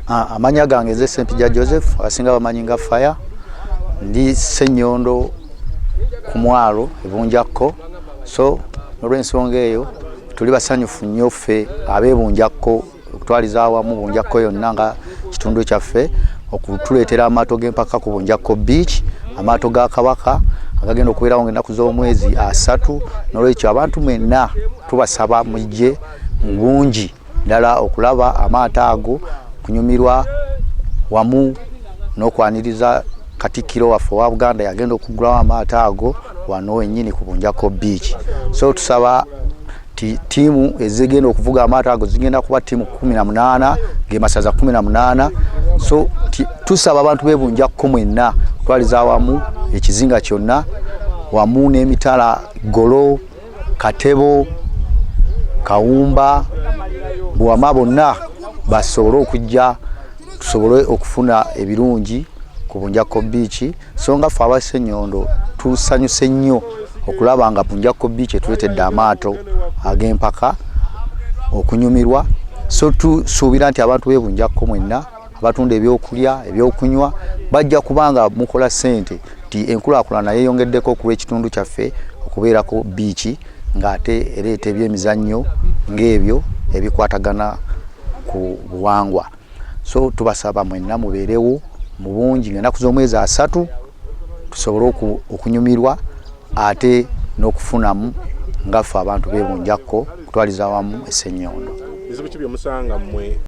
Ah, amanya gange nze sempija joseph asinga bamanyi nga fire ndi senyondo ku mwalo ebunjakko so olw'ensonga eyo tuli basanyufu nnyo ffe abebunjakko okutwaliza awamu bunjakko yonna nga kitundu kyaffe okutuleetera amaato g'empaka ku bunjakko beach amaato ga kabaka agagenda okubeerawo nga ennaku z'omwezi asatu n'olwekyo abantu mwenna tubasaba mujje mu bungi ddala okulaba amaato ago kunyumirwa wamu n'okwaniriza katikkiro waffe owa buganda yagenda okuggulawo amaato ago wano wenyini ku bunjako beach so tusaba ti tiimu ezigenda okuvuga amaato ago zigenda kuba tiimu kumi na munaana gemasaza kumi na munaana so tusaba abantu bebunjakko mwenna okutwaliza awamu ekizinga kyonna wamu n'emitala golo katebo kawumba buwama bonna basobole okujja tusobole okufuna ebirungi ku bunjakko biiki so nga ffe abasenyondo tusanyuse nnyo okulaba nga bunjakko biiki etuletedde amaato ag'empaka okunyumirwa so tusuubira nti abantu bebunjakko mwenna abatunda ebyokulya ebyokunywa bajja kubanga mukola sente nti enkulaakulana yeeyongeddeko okuba ekitundu kyaffe okubeerako biiki ng'ate ereeta ebyemizannyo ng'ebyo ebikwatagana ku buwangwa so tubasaba mwenna mubeerewo mu bungi ng'ennaku z'omwezi asatu tusobole okunyumirwa ate n'okufunamu ngaffe abantu bebunjakko okutwaliza awamu essenyoondo